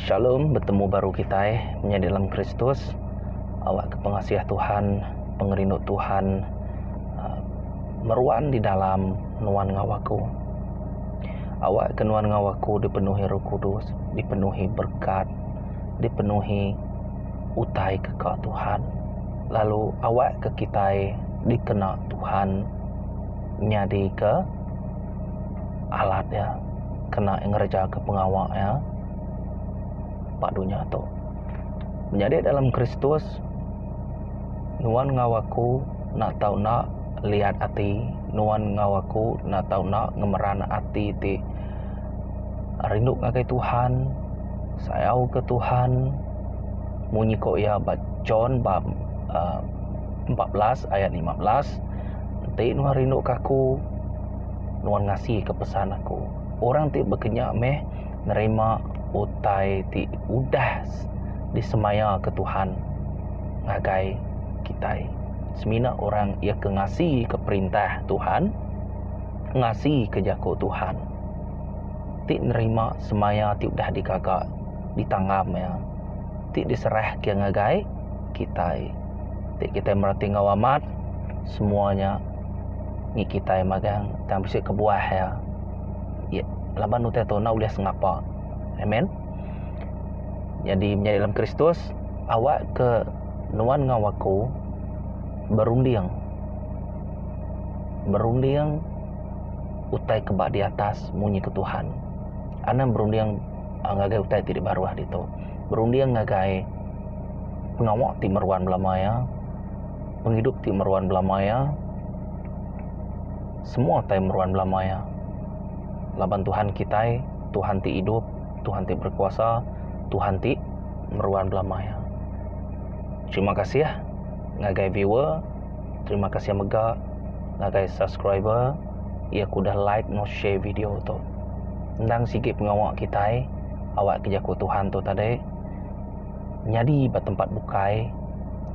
Shalom, betemu baru kitai menyadi dalam Kristus. Awakka pengasih Tuhan, pengerindu Tuhan ah, meruan di dalam nuan enggau aku. Awakka nuan enggau aku dipenuhi Roh Kudus, dipenuhi berkat, dipenuhi utai ke ka Tuhan. Lalu awakka kitai dikena Tuhan. nyadika alat iya kena ngerejaka pengawa iya ba dunya tu. Menyadi dalam Kristus nuan enggau aku enda tau enda liat ati, nuan enggau aku enda tau enda ngemeran ati ti rindu ngagai Tuhan, sayau ke Tuhan munyi ko iya ba John bab a empat belas ayat lima belas. Enti nuan rinduka Aku, nuan ngasika pesan Aku. Orang ti bekenya meh nerima utai ti udah disemayaka Tuhan ngagai kitai. Semina orang iya ke ngasika perintah Tuhan, ngasika jaku Tuhan, ti nerima semaya ti udah digaga, ditanggam iya, ti diserahka ngagai kitai. ti kitai mereti enggau amat semua nya ngi kitai magang tang bisi kebuah iya ye laban utai tu enda ulih sengapa amen nyadi menyadi dalam kristus awak ke nuan enggau aku berunding berunding utai ke ba di atas munyi ke tuhan anang berunding ngagai utai ti dibaruh ditu berunding ngagai pengawa ti meruan belama iya, pengidup ti meruan belama iya, semua utai meruan belama iya laban Tuhan kitai Tuhan ti idup Tuhan ti berekuasa Tuhan ti meruan belama iya. Terima kasih ngagai viewer terima kasih mega ngagai subscriber. iya ku udah like enggau share video tu. Endang sigi pengawa kitai awakka jaku Tuhan tu tadi nyadi ba tempat bukai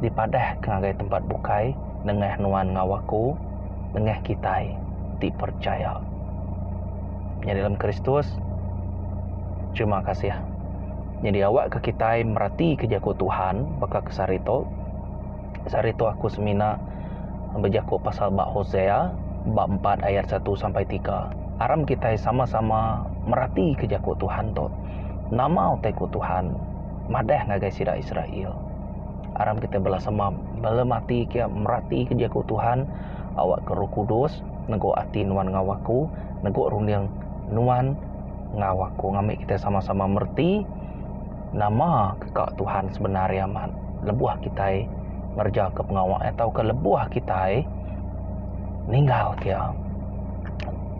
dipadahka ngagai tempat bukai nengah nuan enggau aku nengah kitai ti percaya. Nya dalam Kristus terima kasih. Nyadi awakka kitai meratika jaku Tuhan baka kesaritok. Sehari tu aku semina bejaku pasal ba Hosea bab empat ayat satu sampai tiga. Aram kitai sama-sama meratika jaku Tuhan tu. Nama utai ku Tuhan madah ngagai sida Israel? Aram kitai bela sama bala mati kia meratika jaku Tuhan, Awakka Roh Kudus neguk ati nuan enggau aku, neguk runding nuan enggau aku. Ngambi kitai sama-sama mereti. Nama ka Tuhan sebenar iya amat lebuh kitai ngerejaka pengawa iya tauka lebuh kitai ninggalka iya?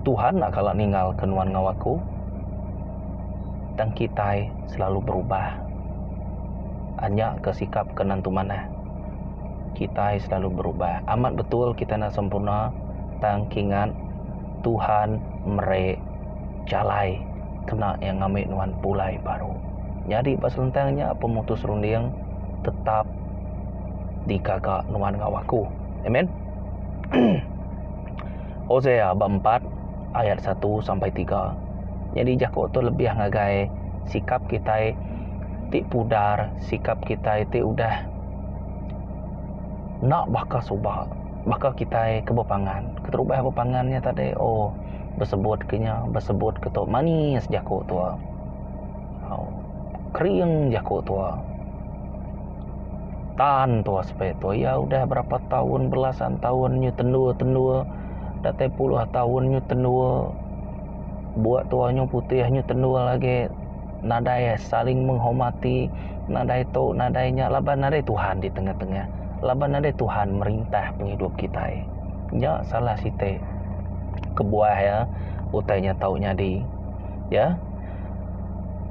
Tuhan enda kala ninggalka nuan enggau aku. Tang kitai selalu berubah. Anya ka sikap ke nentu manah. Kitai selalu berubah. Amat betul kitai enda sempurna tang kingat Tuhan meri. jalai kena iya ngambi nuan pulai baru. Nyadi ba selentang nya pemutus runding tetap digaga nuan enggau aku. Amen. Hosea bab empat ayat satu sampai tiga. Nyadi jaku tu lebih ngagai sikap kitai ti pudar, sikap kitai ti udah enda baka suba, baka kitai ke bepangan. Keterubah bepangan nya tadi, oh. Besebut ke nya, besebut ke tu manis jaku tua. Au. Kering jaku tua. Tan tua sepe tua iya udah berapa taun belasan taun nyu tendua-tendua datai puluh taun nyu tendua. Bua tua nyu putih nyu tendua lagi. nadai saling menghormati nadai tu nadai nya laban nadai Tuhan di tengah-tengah laban nadai Tuhan merintah pengidup kitai nya salah siti kebuah iya utai nya tau nyadi ya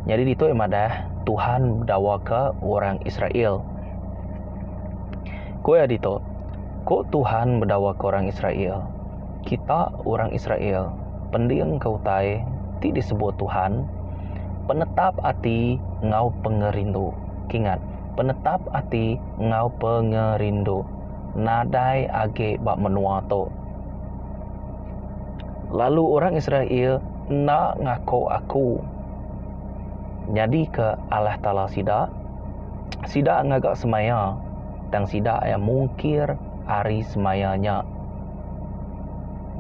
nyadi ditu iya madah Tuhan bedawa ka orang Israel ku iya ditu ku Tuhan bedawa ka orang Israel. Kita, orang Israel, pendingka utai ti disebut Tuhan, penetap ati enggau pengerindu. Kingat, penetap ati enggau pengerindu. Nadai agi ba menua tu. Lalu orang Israel enda ngaku aku nyadika Allah Taala sida. Sida ngaga semaya, tang sida mungkir ari semaya nya.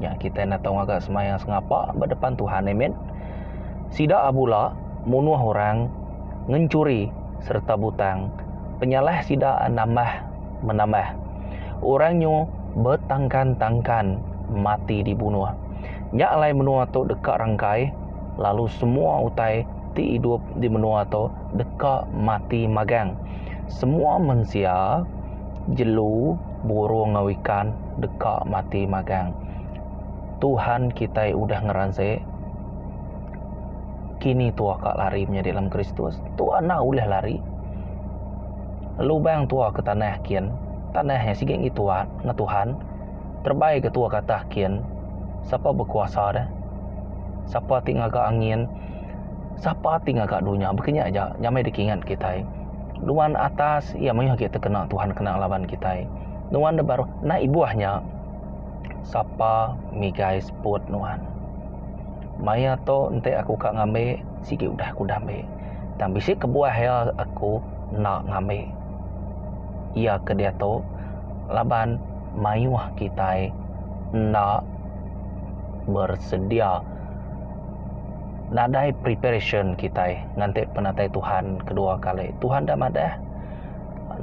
Nya kitai natau ngaga semayang sengapa ba depan Tuhan amen. Sida bula munuh orang, ngencuri sereta butang. Penyalah sida nambah menambah. Orang nyu betangkan-tangkan mati dibunuh. Nya alai menua tu deka rangkai lalu semua utai ti idup di menua tu deka mati magang. Semua mensia. Jelu, burung enggau ikan deka mati magang. Tuhan kitai udah ngeransik kini tua ka lari menyadi dalam Kristus. Tua enda ulih lari. Lubang tua ke tanah kin, tanah nya sigi agi tua enggau Tuhan. Terebai ke tua ke atas kin, sapa bekuasa deh? Sapa ti ngaga angin? Sapa ti ngaga dunya? Baka nya aja nyamai dikingat kitai. Nuan atas iya mayuh agi tekena Tuhan kena ngelaban kitai. Nuan dep baruh nai ibuh nya sapa migai seput nuan. Maya tu enti aku ka ngambi sigi udah aku udah ambi tang bisi kebuah iya aku enda ngambi iya ke diatu laban mayuh kitai enda bersedia. Nadai preparation kitai nganti penatai Tuhan kedua kali. Tuhan dah madah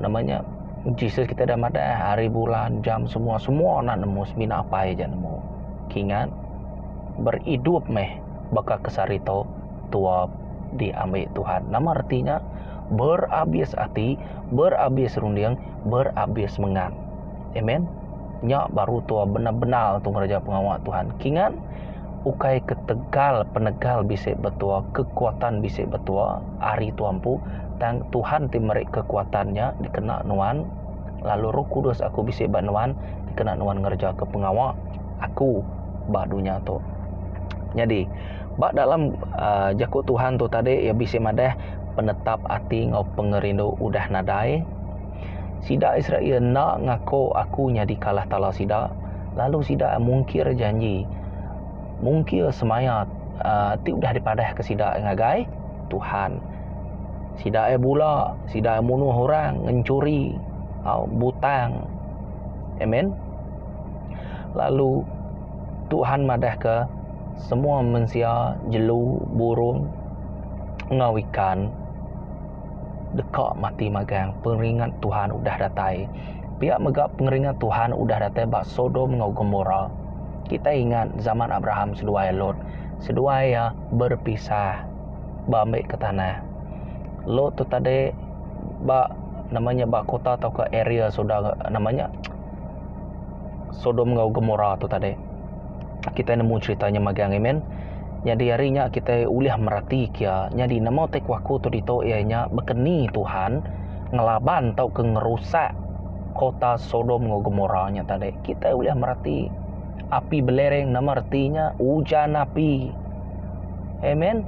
nama nya Jesus kitai dah madah hari bulan jam semua semua enda nemu semina apai aja nemu. Kingat beridup meh baka ke sehari tu tuap diambi Tuhan. Nama reti nya? Berabis ati, berabis runding, berabis mengan. Amen. Nya baru tua benar-benar tu ngereja pengawa Tuhan. Kingat ukai ketegal penegal bisi betua, kekuatan bisi betua ari tua empu, tang Tuhan ti meri kekuatan nya dikena nuan lalu Roh Kudus aku bisi ba nuan dikena nuan ngereja ke pengawa aku ba dunya tu. Nyadi ba dalam uh, jaku Tuhan tu tadi ia bisi madah penetap ati enggau pengerindu udah nadai Sida Israel enda ngako Aku nyadi kalah tala sida, lalu sida mungkir janji, mungkir semaya ti udah dipadahka sida ngagai Tuhan. Sida ai bula, sida ai munuh orang, ngenchuri, butang. Amen. Lalu Tuhan madahka semua mensia, jelu, burung enggau ikan. Deka mati magang pengeringat Tuhan udah datai. Pia mega pengeringat Tuhan udah datai ba Sodom enggau Gomora. Kitai ingat zaman Abraham seduai Lot. Seduai iya berpisah ba ambi ke tanah. Lot tu tadi ba nama nya ba kota tauka area sudah nama nya Sodom enggau Gomora tu tadi. Kitai nemu cerita nya magang ai men. Nyadi ari nya kitai ulih merati kia nyadi nama utai kuaku tu ditu iya nya baka ni Tuhan ngelaban tauka ngerusak kota Sodom enggau Gomora nya tadi. Kitai ulih merati api belereng nama reti nya ujan api. Amen.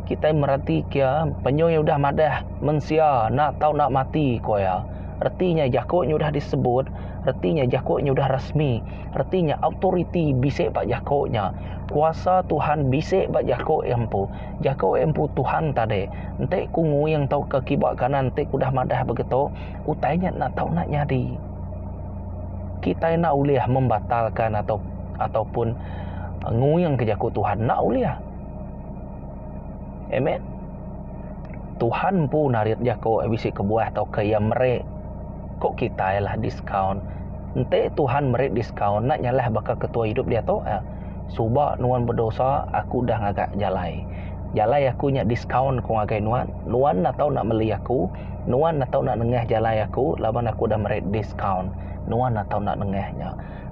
Kitai merati kia penyuh iya udah madah mensia enda tau enda mati ku iya. Reti nya jaku nya udah disebut, reti nya jaku nya udah resmi. Reti nya authority bisi ba jaku nya. Kuasa Tuhan bisi ba jaku empu. Jaku empu Tuhan tadi. Enti ku nguing tauka kiba kanan ti ku udah madah begitu, utai nya enda tau enda nyadi. Kitai enda ulih membatalka atau ataupun nguing ke jaku Tuhan. Enda ulih. Amen. Tuhan empu narit jaku bisi kebuah tauka iya meri. Ko kitai lah discount. Enti Tuhan meri discount enda nyalah baka ketua idup diatu eh. Suba nuan bedosa aku udah ngaga jalai. Jalai aku nya discount ko ngagai nuan. Nuan enda tau enda meli aku. Nuan enda tau enda nengah jalai aku laban aku udah meri discount. Nuan enda tau enda nengah nya.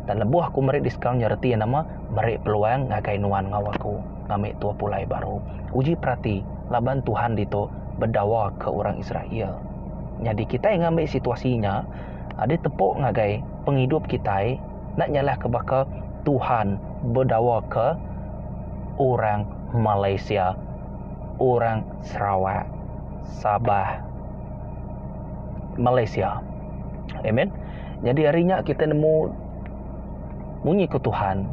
Dan lebuh aku meri discount nya reti nama meri peluang ngagai nuan enggau aku ngami tua pulai baru. Uji perati laban Tuhan ditu bedawa ke orang Israel. Nyadi kitai ngambi situasi nya adi tepu ngagai pengidup kitai enda nyalahka baka Tuhan bedawaka orang Malaysia, orang Sarawak, Sabah, Malaysia. Amen. Nyadi ari nya kitai nemu. Munyi ku Tuhan,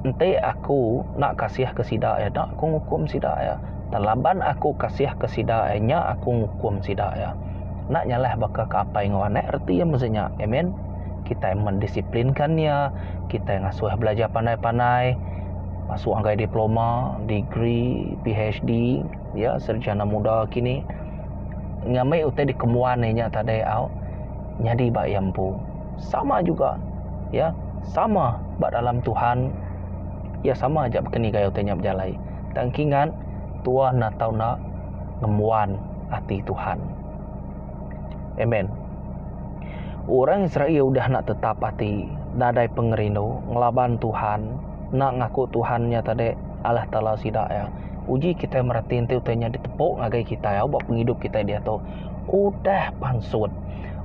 Enti Aku enda kasihka sida, enda Aku ngukum sida. Tang laban Aku kasihka sida, nya Aku ngukum sida. Enda nyalah baka ke apai enggau anak reti iya meh nya. Amen. Kitai mendisiplinka iya, kitai ngasuh belajar pandai-pandai masuk ngagai diploma, degree, PHD, ya, sarjana muda kini. Ngambi utai dikembuan iya nya tadi au. nyadi ba iya empu. Sama juga iya sama ba dalam Tuhan iya sama aja baka ni gayau nya bejalai tang engki ngan tua enda tau enda ngembuan ati Tuhan. Amen. Orang Israel udah enda tetap ati nadai pengerindu ngelaban Tuhan enda ngaku Tuhan nya tadi Allah Taala sida iya. Uji kitai mereti enti utai nya ditepu ngagai kitai au ba pengidup kitai diatu. Udah pansut.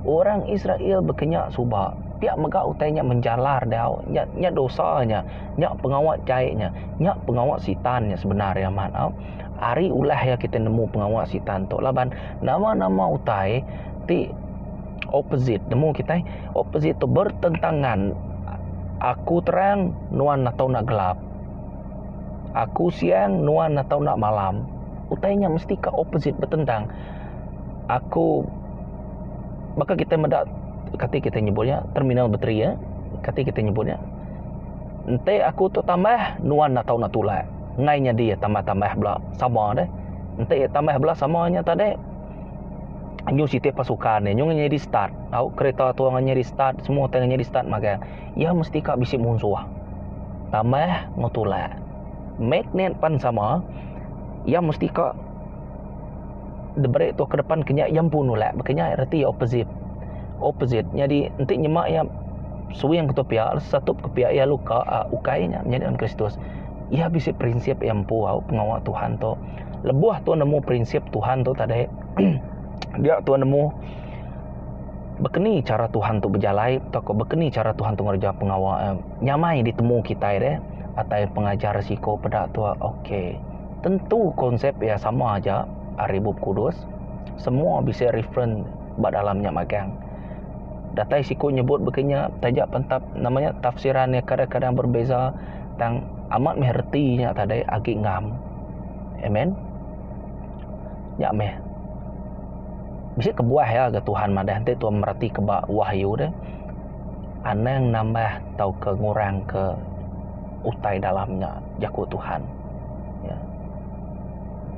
Orang Israel bekenya suba. Pia mega utai nya menjalar dau. Nya nya dosa nya. Nya pengawa jai nya. Nya pengawa sitan nya sebenar iya amat au. Ari ulah iya kitai nemu pengawa sitan tu laban nama-nama utai ti opposite nemu kitai opposite tu bertentangan. Aku terang nuan atau enda gelap. Aku siang nuan atau enda malam. utai nya mesti ka opposite betentang aku baka kita meda kati kita nyebut nya terminal bateri ya kati kita nyebut nya enti aku tu tambah nuan enda tau nak tulak ngai nyadi tambah tambah bala sama deh enti tambah bala sama nya tadi nyu siti pasukan nyu ngah nyadi start tau kereta tu ngah nyadi start semua tai ngah nyadi start magang ya mesti ka bisi munsuh tambah enggau tulak. magnet pan sama iya mesti ka diberi tu ke depan kenya iya empu nulak ba kenya reti opposite opposite nyadi enti nyema iya swing ketu pia setup ke pia iya lalu ka a ukai nya menyadi orang kristus iya bisi prinsip iya empu au pengawa Tuhan tu lebuh tuan nemu prinsip Tuhan tu tadi dia tuan nemu bekeni chara Tuhan tu bejalai tauka bekeni chara Tuhan tu ngereja pengawa nyamai ditemu kitai re. atai pengajar risiko peda tu ok tentu konsep iya sama aja ari bup kudus semua bisi reference ba dalam nya magang datai siku nyebut baka nya taja pentap nama nya tafsiran iya kadang-kadang berbeza tang amat meh reti nya tadai agi ngam amen nya meh bisi kebuah iya ga Tuhan madah enti tuan mereti keba wahyu deh. Anang nambah tauka ngurangka utai dalam nya, jaku Tuhan. Ya.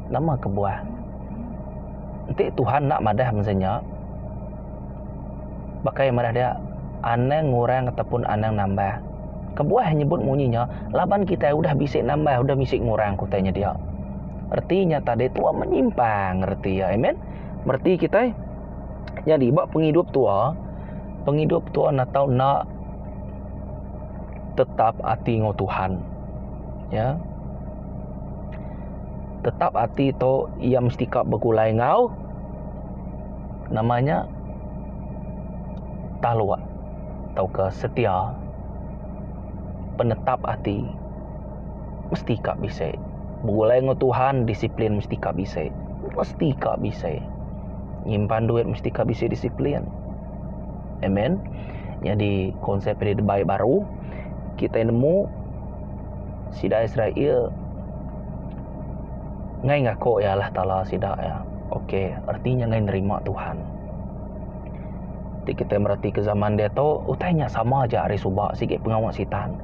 Nama kebuah? Enti Tuhan enda madah mensia nya, baka iya madah dia, anang ngurang ataupun anang nambah. Kebuah nyebut munyi nya, laban kitai udah bisi nambah, udah bisi ngurang ke utai nya dia. Reti nya tadi tua menyimpang reti iya. Amen. Mereti kitai? Nyadi ba pengidup tua, pengidup tua enda tau enda tetap ati enggau Tuhan. Ya. Tetap ati tu iya mesti ka begulai enggau nama nya taluk tauka setia penetap ati mesti ka bisi begulai enggau Tuhan disiplin mesti ka bisi. Mesti ka bisi. nyimpan duit mesti ka bisi disiplin. Amen. Nyadi konsep di dibai baru kita nemu sida Israel ngai ngaku iya lah taala sida iya. Okey reti nya ngai nerima Tuhan. Ti kita mereti ke zaman diatu utai nya sama aja ari suba sigi pengawa sitan.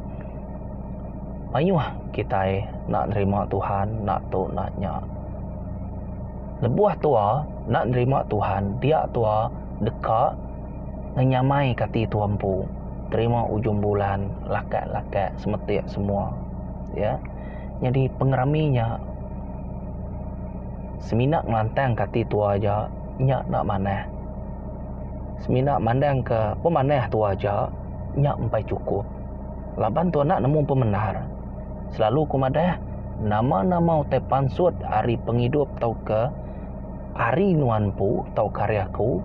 Mayuh kitai nak nerima Tuhan nak tu nak nya. Lebuh tua enda nerima Tuhan dia tua deka ngenyamai ke ati tua empu terima ujung bulan lakat-lakat semetik semua ya nyadi pengerami nya semina ngelantang ke ati tua aja nya enda manah semina mandang ke pemanah tua aja nya empai cukup laban tua enda nemu pemendar. Selalu aku madah, nama-nama utai pansut ari pengidup tauka ari nuan empu tauka ari aku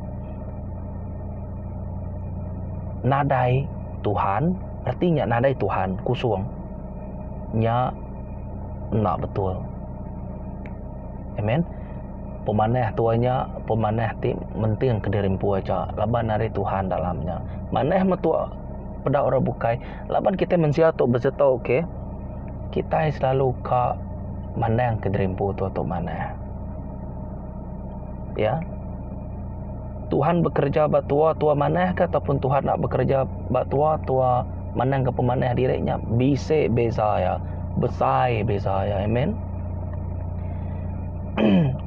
nadai Tuhan, reti nya nadai Tuhan, kusung. Nya enda betul. Amen. Pemanah tua nya pemanah ti menting kediri empu aja laban ari Tuhan dalamnya. Manah metua peda orang bukai Laban kitai mensia tu besetu ke kitai selalu ka mandang ke diri empu tu tu manah. Ya. Tuhan bekerja ba tua tua manah ke ataupun Tuhan nak bekerja ba tua tua mandang ke pemanah diri nya bisi beza ya. Besai beza ya. Amen.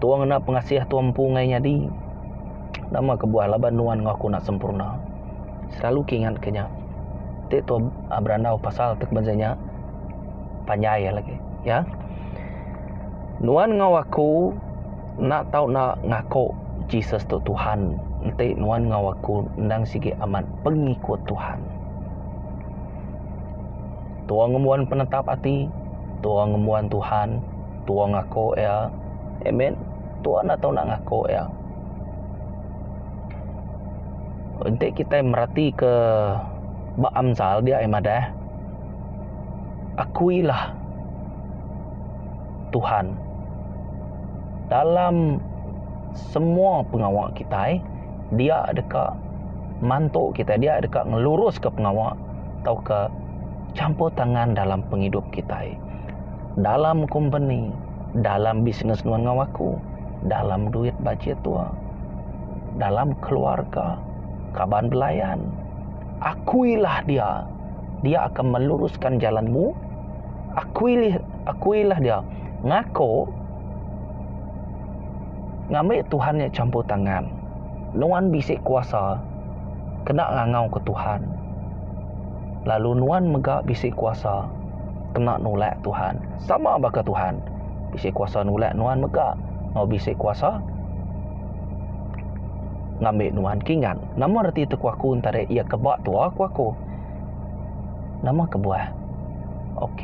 tua ngena pengasih tua empu ngai nyadi. Nama kebuah laban nuan ngaku nak sempurna. selalu ke ingat ke nya ti tu berandau pasal tu kemensia nya panjai lagi ya nuan enggau aku enda tau ngaku Jesus tu tuhan enti nuan enggau aku enda sigi amat pengikut tuhan tuong ngembuan penetap ati tuong ngembuan tuhan tuong ngaku iya amen tuan enda tau ngaku iya. Enti kitai meratika ba Amsal dia ai madah, Akuilah Tuhan dalam semua pengawa kitai, dia deka mantu kitai, dia deka ngeluruska pengawa tauka champur tangan dalam pengidup kitai. Dalam kompeni, dalam bisnes nuan enggau aku, dalam duit bajet tua. dalam keluarga, kaban belayan. Akuilah dia. Dia akan meluruskan jalanmu. Akuilih, akuilah dia. Ngako ngambi Tuhan nya campur tangan. Nuan bisi kuasa kena ngangau ke Tuhan. Lalu nuan mega bisi kuasa kena nulak Tuhan. Sama baka Tuhan bisi kuasa nulak nuan mega enggau bisi kuasa Ngambi nuan kingat. Nama reti tekuaku entara iya ke ba tua ku aku. Nama kebuah. Ok.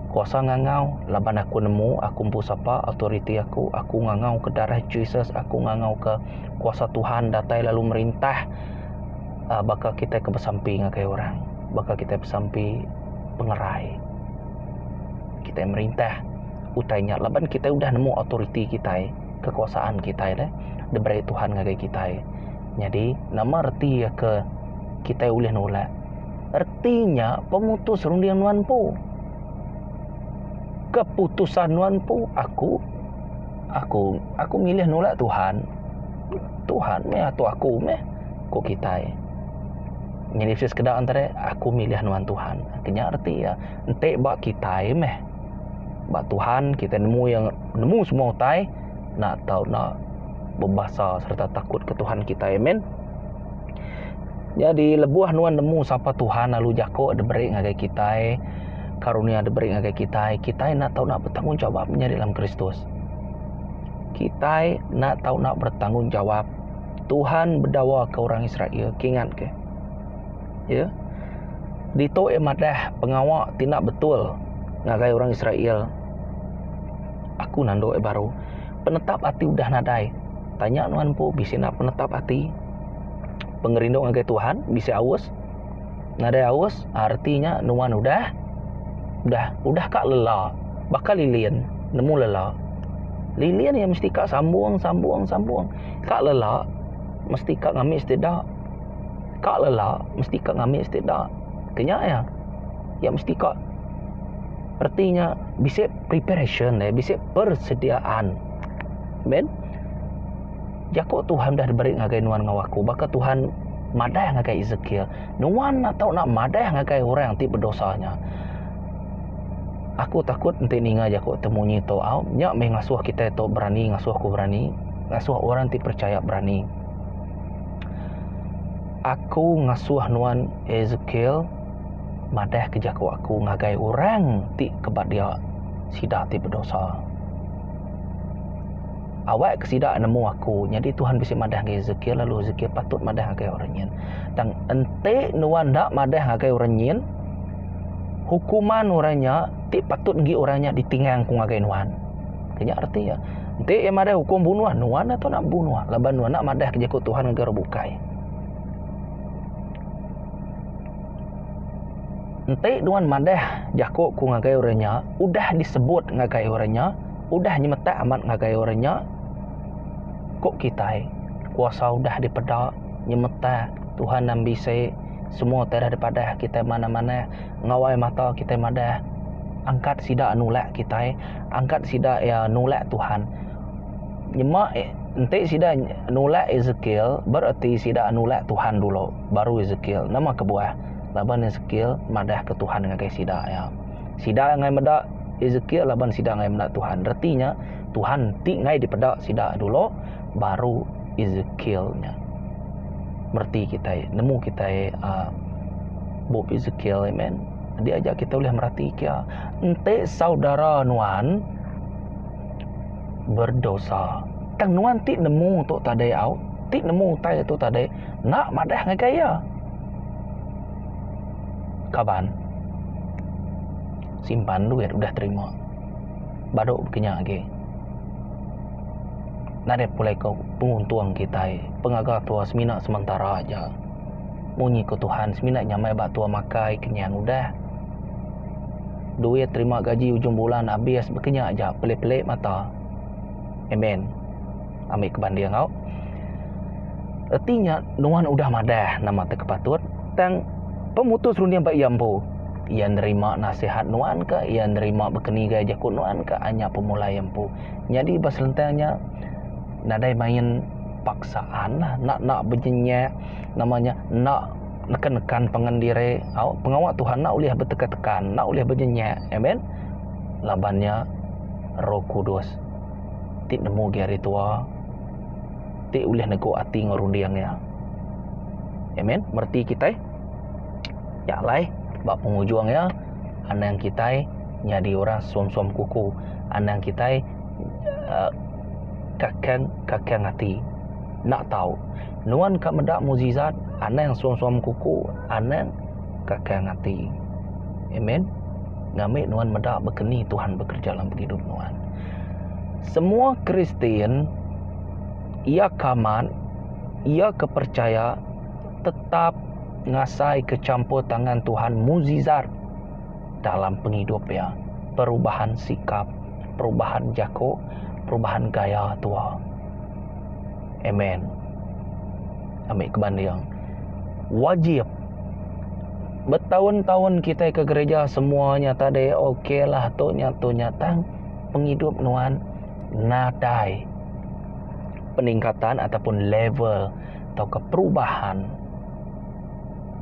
Kuasa ngangau laban aku nemu aku empu sapa authority aku aku ngangau ke darah Jesus aku ngangau ke kuasa Tuhan datai lalu merintah uh, baka kita ke besampi ngagai orang baka kita besampi pengerai kita merintah utai nya laban kita udah nemu authority kita kekuasaan kitai deh diberi Tuhan ngagai kitai. Nyadi, nama reti iya ke kitai ulih nulak? Reti nya pemutus runding nuan empu. Keputusan nuan empu, aku aku aku milih nulak Tuhan. Tuhan meh atur aku meh ku kitai. Nyadi sekeda antara aku milih nuan Tuhan. Kenya reti iya. Enti ba kitai meh ba Tuhan kitai nemu iya nemu semua utai enda tau enda bebasa sereta takut ke Tuhan kitai amen. Nyadi lebuh nuan nemu sapa Tuhan lalu jako diberi ngagai kitai karunia diberi ngagai kitai kitai enda tau enda bertanggungjawab nyadi dalam Kristus. Kitai enda tau enda bertanggungjawab Tuhan bedawa ke orang Israel ke ingat ke. Iya. Ditu iya madah pengawa ti enda betul ngagai orang Israel. Aku nandu iya baru. Penetap ati udah nadai. Tanya nuan empu bisi enda penetap ati. Pengerindu ngagai Tuhan bisi aus. Nadai aus arti nya nuan udah udah udah ka lela. Baka lilin nemu lela. Lilin iya mesti ka sambung sambung sambung. Ka lela mesti ka ngambi sida. ka lela mesti ka ngambi siti da kenya iya iya mesti ka reti nya bisi preparation laie bisi persediaan ben jaku tuhan dah diberi ngagai nuan enggau aku baka tuhan madah ngagai ezekiel nuan enda tau madah ngagai orang ti bedosa nya aku takut enti ninga jaku tu munyi tu au nya meh ngasuh kitai tu berani ngasuh aku berani ngasuh orang ti percaya berani. Aku ngasuh nuan Ezekiel madahka jaku aku ngagai orang ti ke ba dia sida ti bedosa. Awakka sida nemu aku. Nyadi Tuhan bisi madah ngagai Ezekiel lalu Ezekiel patut madah ngagai orang nyin. Tang enti nuan enda madah ngagai orang nyin, hukuman orang nya ti patut enggi orang nya ditingang ku ngagai nuan. Ti nya reti iya. Enti iya madah ukum bunuh, nuan atu enda bebunuh laban nuan enda madahka jaku Tuhan ngagai orang bukai. Enti nuan madah jakuku ngagai orang nya, udah disebut ngagai orang nya, udah nyemetak amat ngagai orang nya, ku kitai, kuasa udah dipeda, nyemetak, Tuhan dah mbisi, semua utai dah dipadah kitai manah-manah, ngawai mata kitai madah, angkat sida nulak kitai. angkat sida iya nulak Tuhan. Nyema enti sida nulak Ezekiel, bereti sida nulak Tuhan dulu, baru Ezekiel. Nama kebuah? Laban Ezekiel madahka Tuhan ngagai sida iya. Sida angai meda Ezekiel laban sida angai meda Tuhan. Reti nya, Tuhan enti angai dipeda sida dulu, baru Ezekiel nya. Mereti kitai, nemu kitai a bup Ezekiel. Amen. Diaja kita ulih mereti kia. Enti saudara nuan berdosa, tang nuan ti nemu tu tadi au, ti nemu utai tu tadi, enda madah ngagai iya. Kaban, simpan duit udah terima. Badu pagi nya agi. Nadai pulai ko penguntung kitai. Pengaga tua semina sementara aja. Munyi ko Tuhan semina nyamai ba tua makai kenyang udah. duit terima gaji ujung bulan abis bekenya aja pelik-pelik mata amen ambi ke banding au reti nya nuan udah madah nama ti patut tang pemutus runding ba iya empu iya nerima nasihat nuan ka iya nerima bekenigai jaku nuan ka nya pemulai empu nyadi ba selentang nya nadai main paksaan lah enda bejenyak nama nya enda. nekan-nekan pangan diri, au pengawa Tuhan enda ulih betekan-tekan, enda ulih benyenyak. Amen. Laban nya Roh Kudus ti nemu agi hari tua ti ulih neguk ati enggau runding iya. Amen. Mereti kitai nya alai ba pengujung iya anang kitai nyadi orang suam-suam kuku, anang kitai eh, kakang-kakang ati. Enda tau. Nuan ka meda mukjizat, anang suam-suam kuku, anang kakang ati. Amen. Ngambi nuan meda bekeni Tuhan bekerja dalam pengidup nuan. Semua Kristian iya ke amat, iya ke percaya tetap ngasai ke campur tangan Tuhan mukjizat dalam pengidup iya. Perubahan sikap, perubahan jako, perubahan gaya tua. Amen. Amik kebanding. Wajib. Betaun-taun kitai ke gereja semua nya tadi ok lah tu nya tu nya tang pengidup nuan nadai peningkatan ataupun level tauka perubahan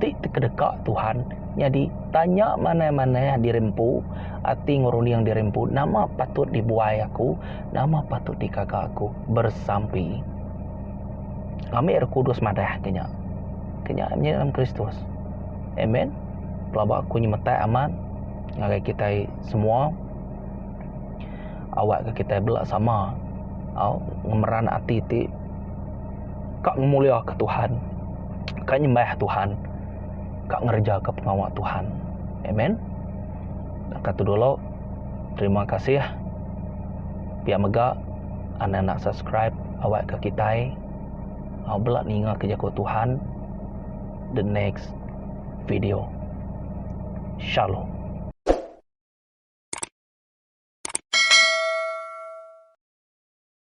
ti tekedeka Tuhan nyadi tanya manah-manah diri empu ati ngerunding diri empu nama patut dibuai aku Nama patut dikaga aku bersampi ngambi Roh Kudus madah ke nya? Ke nya menyadi dalam Kristus. Amen. Pelaba aku nyemetak amat ngagai kita semua awak ke kita bela sama au ngemeran ati ti ka ngemulia ke Tuhan, ka nyembah Tuhan, ka ngereja ke pengawa Tuhan. Amen. Naka tu dulu. Terima kasih pia mega anda enda subscribe awak ke kitai au bela ninga ke jaku Tuhan the next video shalom.